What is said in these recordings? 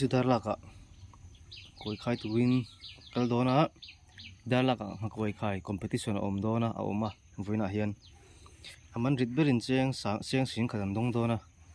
chu dar lakah kawi khai turin kal dawn a dar lakah a hma kawi khai competition a awm dawn a a awm a vawiinah hian a man rit berin chiang seng seng seng khat an dawng dawn a.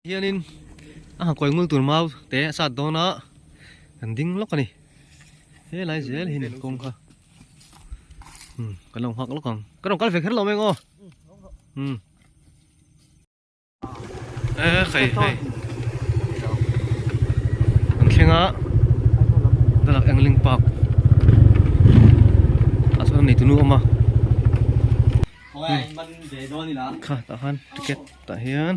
hianin a han kawi ngul tur mau te a sat dawn a kan ding lawk a ni helai zel hi a ni kawng kha um kan lo nghak lawk ang ka rawn kal ve kher lo meng aw um e khei hei kan thlenga dalak engling park a sawn a nei tunu awm a kha tah khan ticket tah hian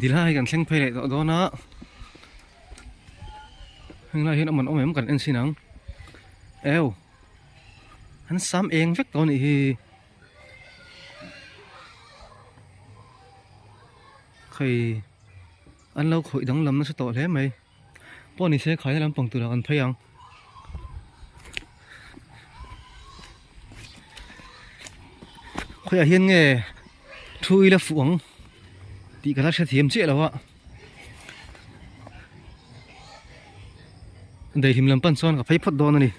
Tilai kan thleng phei leh tawh dawn a, heng lai hian awm an awm em kan en sin ang, eo an sam eng vek tawh a nih hi, hei an lo khawih danglam nasa tawh hle mai. Pawh ni se khaina lampang tur ah kan phei ang. Khawiah hian nge thu ila fuh ang tih kan la hre thiam chiah lo a. Daihlim lam pan chuan ka phei phawt dawn a ni.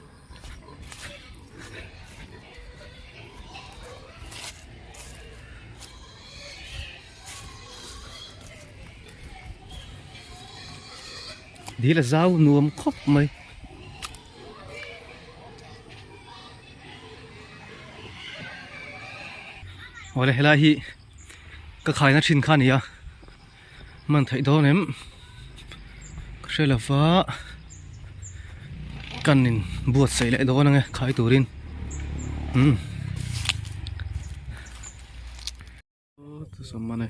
dil a zau nuam khawp mai awle helai hi ka khaina thin kha nia. man theih dawn em ka hre lo va kan in buat saih leh dawn ang e khai tur in umm aw chu sam a ni.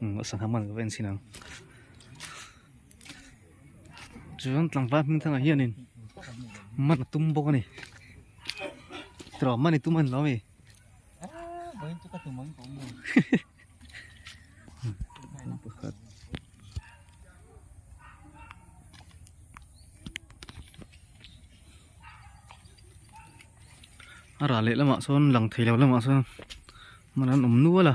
Umm a sana hman ka va en sin ang chuan tlangval hming thangah hianin man a tum bawk a ni tura man i tum a ni lo a mi a rah leh lamah sawn lang thei loh lamah sawn man an awm nual a.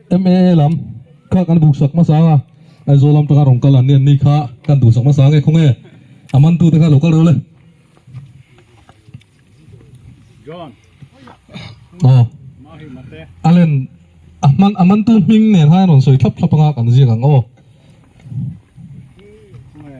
MA lam kha kan buk sak hmasa a, Aizawl lam taka rawn kal an ni an ni kha kan duh sak hmasa nge khawnge? A man tu te kha lo kal reuh le. John. Aw. Allen, a hman a man tu hming nen hian rawn sawi thlap thlap anga kan ziak ang aw. Khawnge?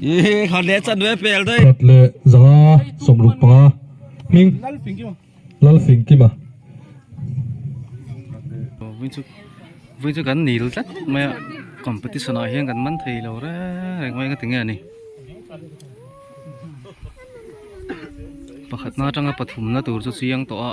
Ih, khan leh chan nuai pel dai. Khat leh zanga sawmruk panga hming lal fing kima. Vui chu vui chu kan nil tlat maia competition ah hian kan man thei lo reng reng mai ka ti nge ani pakhatna atanga pathumna tur chu chiang tawh a.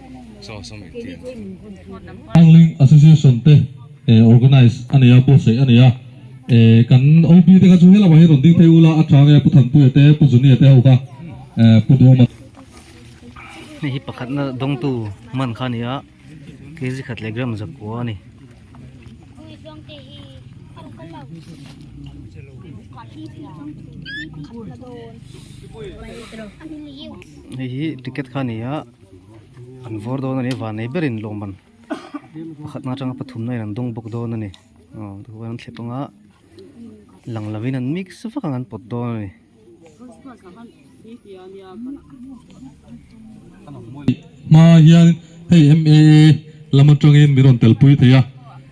Angling Association te organise a nei a, buatsaih a nei a. Eh kan OB te kha chu he lamah hi an rawn ding phei ul a, a chhang e Pu Thanpuia te, Pu Zunia te ho kha eh Pu Duma te. Hei hi pakhatna dawngtu hman kha a ni a, kg khat leh gram zakua a ni. Hei hi ticket kha a ni a. an vawr dawn a ni a vannei berin lawmman pakhatna atanga pathumna in an dawng bawk dawn a ni aw tah hian an thle panga lang lo in an mix vak ang an pawt dawn a ni hmaah hian hei lam atangin min rawn tel pui thei a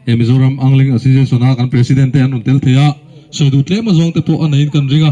he mizoram angling association a kan president te an rawn tel thei a sawi duh tlem azawng te pawh a neiin kan ring a.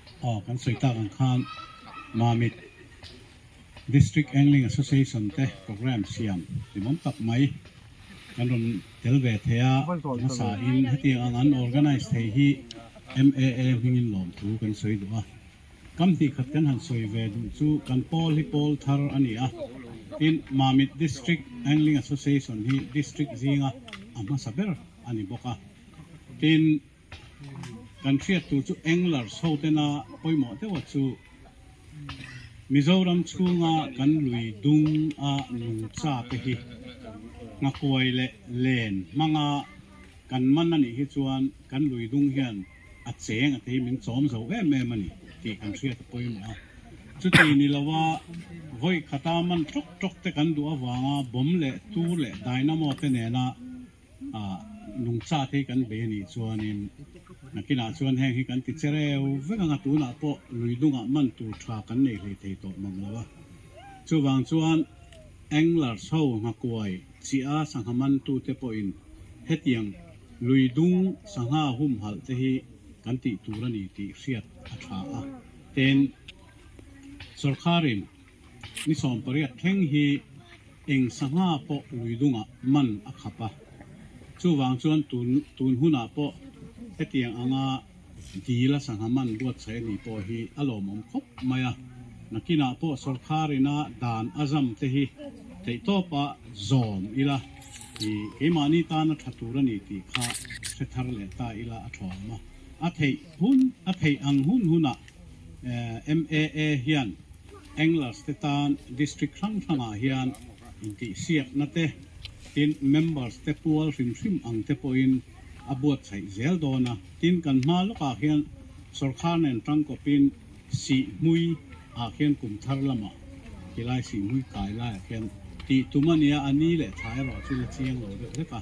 Aw kan sawi tak ang khan Mamit District Angling Association te programme siam timawm tak mai kan rawn tel ve thei a, hmasa in hetiang ang an organise thei hi MAA hmingin lawm thu kan sawi duh a, kam hnikkhat kan han sawi ve duh chu kan pawl hi pawl thar a ni a, tin Mamit District Angling Association hi district zinga a hmasa ber a ni bawk a, tin. Kan hriat tur chu Anglers ho tena pawimawh deuha chu Mizoram chhunga kan lui dung a nung cha te hi Nghakuai leh Len hmanga kan man a nih hi chuan kan lui dung hian a cheng a tei min chawm zo em em a ni tih kan hriat a pawimawh a. Chuti ni lo a vawi khata man tawk tawk te kan duh avanga bomb leh tur leh dynamo te nena Ah, nung chat hi kan be anih chuanin nakinah chuan heng hi kan ti che reu vek anga tunah pawh lui dungah man tur tha kan nei hlei thei tawh mam lo a. Chuvang chuan Englar Tho Nghakuai Chiha sangha man tute pawhin hetiang lui dung sangha humhalh te hi kan tih tur a ni tih hriat a tha a. Ten, sorkarin. I sawm pariat thleng hi eng sangha pawh lui dungah man a khap a, chuvang chuan tun tun hunah pawh hetiang anga dil a sangha man buatsaih a nih pawh hi a lawmawm khawp mai a. Nakinah pawh sorkarin a dan a zam te hi teihtawp a zawm ila i keimahni tan a tha tur a ni tih kha hre thar leh ta ila a thawm a, a theih hun a theih ang hun hunah MAA hian Anglers te tan District hrang hrangah hian intihsiakna te, tin Members te pual hrim hrim ang te pawhin a buatsaih zel dawn a, tin kan hma lawkah hian Sorkar nen tangkawpin Sihmui ah hian kum thar lamah tilai Sihmui kai laiah hian tih tum a nia, a ni leh tha erawh chu la chiang lo deuh hlek a.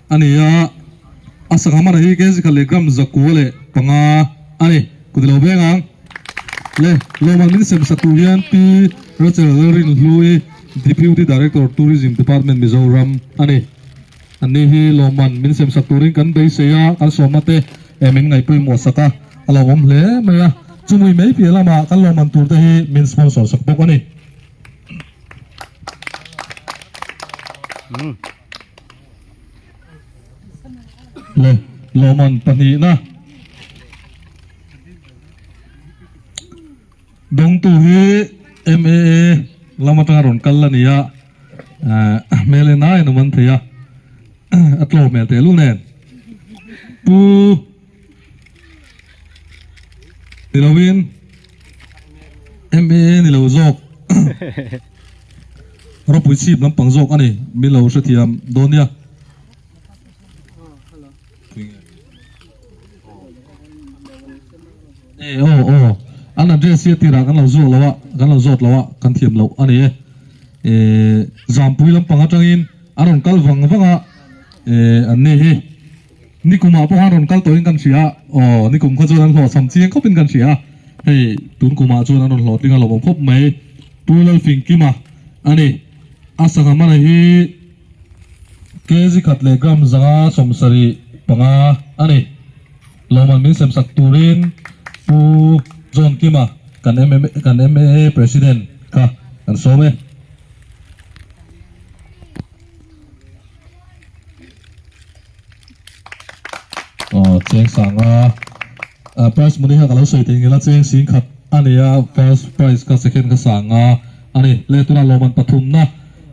a ni a, a sangha hmanah hi kng sikhalh leh gram zakua leh panga a ni. Ka ti lo veng ang. Le Lohman min sem saktu hian Pi Rachel Rinhlui, Deputy Director, Tourism Department, Mizoram a ni. An ni hi Lohman min sem sak turin kan beisei a, kan sawmna te min ngaih pawimawh sak a, a lo awm hle mai a. Chumui mai piah lamah kan Lohman tur te hi min sponsor sak bawk a ni. le lawmman pahnihna dawngtu hi MAA lam atanga rawn kal a nia ah hmel en aiin awm an thei a a tlawh hmel thehlul nen pu Ni lo in MAA ni lo zawk Ropui chhip lampang zawk a ni mi lo hrethiam dawn nia. E aw aw an address hi tirah kan lo zuak lo a kan lo zawt lo a kan thiam lo a ni e e zampui lampang atangin a rawn kal vang vang a e an nih hi Nikum ah pawh khan rawn kal tawh in kan hria a, aw nikum kha chuan an hlawh chham chiang khawp in kan hria a, hei tun kum ah chuan an rawn hlawhtling a lawmawm khawp mai, Pu Lalfing Kima a ni, a sangha mana hi kg khat leh gram zanga sawm sarih panga a ni, lawmawm min sem sak tur in Pu John Kima kan MMA kan MMA President kha kan sawm e. Aww cheng sanga ah price money hian ka lo sawi thei ngila cheng sing khat a ni a first price kha second kha sanga a ni le tunah lawm an pathumna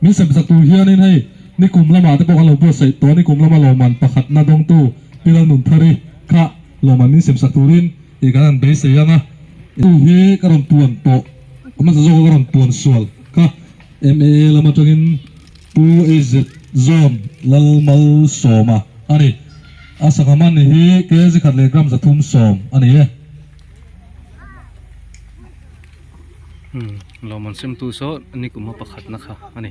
min sem besak tur hianin hei nikum lamah te pawh kan lo buatsaih tawh a nikum lama lawm an pakhatna dawngtu Pilalnunthari kha lawm an min sem sak turin ih kan han beisei ang a tu hi ka rawn tuan tawh hmasa zawk a ka rawn tuan sual kha MAA lam atangin Pu Izit Zawn Lalmal Sawma a ni. A sangha hman hi kg khat leh gram zathum sawm a ni e. Hlauhman semtu saw nik uma pakhat na kha a ni.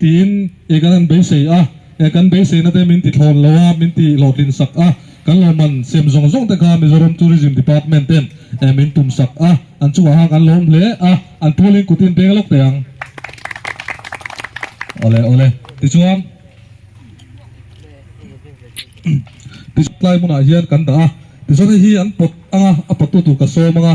Tiin i kan han beisei a, e kan beiseina te min tithlawn lo a, min ti hlawhtlin sak a. Kan lawmman siam zawng zawng te kha Mizoram Tourism Department ten e min tum sak a, an chungah kha kan lawm hle a, an pulin kutin peng lawk teh ang. Awle awle. Tichuan, tichuan tlai hmunah hian kan dah a, tichuan hei hi an pawt anga a pawt tu tur ka sawm anga.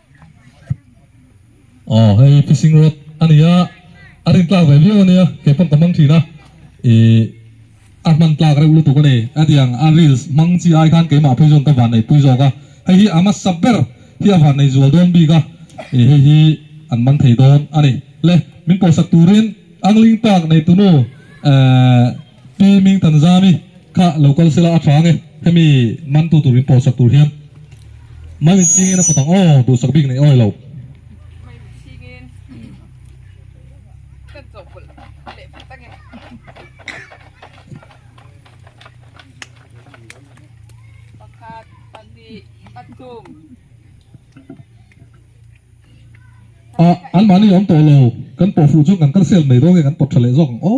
Aww hei hi fishing rod a ni a a rawn tlak ve viau a nia kei pawh ka hmang thin a ihh a hman tlak reuh lutuk a ni a tiang a reels hmang chi ai khan keimah phei zawng ka van nei pui zawk a hei hi a hmasa ber hi a van nei zual dawn bik a ih hei hi an man thei dawn a ni le min pawhsak turin angling park nei tunu ehh Pi Ming Tan Zami kha lo kal sela aṭang e, hemi man tu turin pawlsak tur hian mai min chingin a patang aw, duhsak bik nei awilo. Mai min chingin kan chawhpawlh leh pha tak e. Pakhat, pahnih, pathum. Ahh, anmahni awm tawhlo, kan pawhfuh chuan kan kal sel mai dawnge kan pawt ṭha leh zawk ang aw.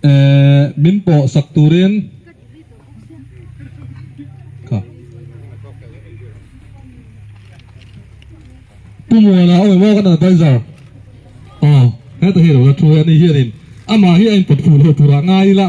Ehh min pawh sak turin kha Pu Muala awm em aw kan advisor aww heta hi alo la thu a ni hian in amah hi a in pawt fuh loh tur ah ngai ila.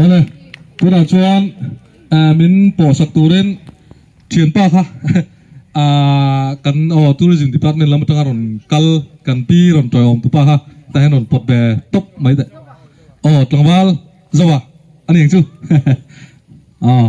Awle tunah chuan ahh min pawh sak turin thianpa kha ahh kan aw tourism department lam atanga rawn kal kan pi rawn tawih awm tupa kha tah hian rawn pawt ve tawp mai daih aw tlangval zauhah a ni ang chu aw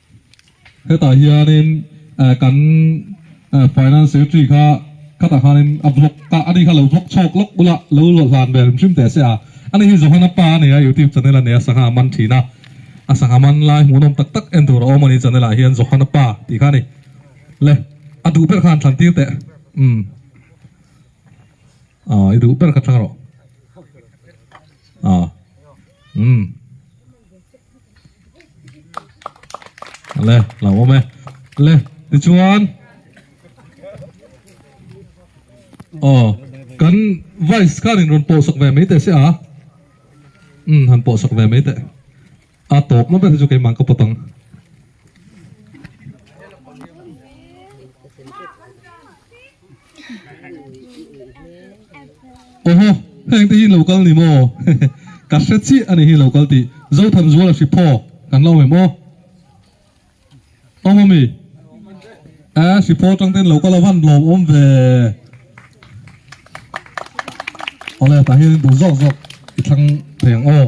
Hetah hianin kan Finance Secretary kha khatah khanin a vlog kah a nih kha a lo vlog chhawk lawk bula lo luah hlan ve hrim hrim teh a se a, a ni hi Johana pa a nia YouTube channel a nia sangha man thin a, a sangha man lai hmuhnawm tak tak en tur a awm a ni channel ah hian Johana pa tih kha a ni le a duh ber kha an thlantir teh umm aw i duh ber kha thleng rawh aw umm. le lo awm e le tichuan aw kan vice khan in rawn pawhsak ve mai teh se a um han pawhsak ve mai teh a tawp na ber hi chu keimah ka pawt ang Oho, heng te hi lokal ni maw? Ka hre chiah a ni hi lokal tih. Zothan zuala hri phawk kan lo hme maw? Awm ami? Aa, hri phawk atang ten lokal a van lawm awm ve. Awle, tah hian in duh zawk zawk i thlang thei ang aw.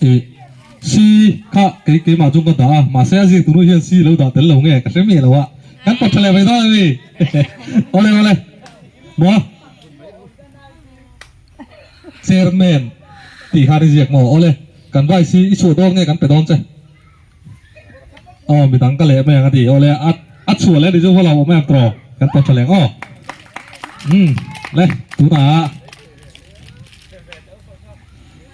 Ih, si kha kei keimah chuan ka dah a, mahse a zir tunu hian si lo dah tel lo nge ka hre miah loh a, kan kawt tha leh vei dawn a ni. Awle awle, maw? Chairman tih khan i ziak maw? Awle, kan vice hi i chhuah dawn nge kan pe dawn che? Aw, mi dang ka leh mai ang a ti. Awle, a a chhuah leh a nih chu vawlo awm em tawh? Kan kawt tha leh ang aw. Umm, le, tunah.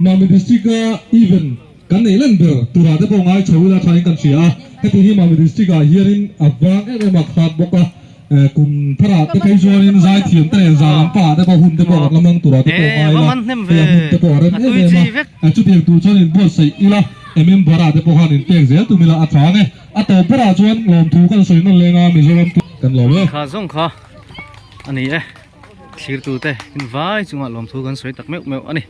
Mami District a event kan nei len ber tura te pawh ngai tho ila tha in kan hria a, heti hi Mami District ah hianin a vang em em a khat bawk a, kum thara te phei chuanin zai thiam te nen zan lam pahah te pawh hun te pawh kan la mang tura te pawh ngai ila hei a hmun te pawh a rem em em a, a chutiang tur chuan in buatsaih ila a member ah te pawh khan in pek zel tum ila a tha ang e, a tawp berah chuan lawmthu kan sawi nawllenga Mizoram kan lo e. thlir tu te in vai chunga lawm thu kan sawi tak meuh meuh a ni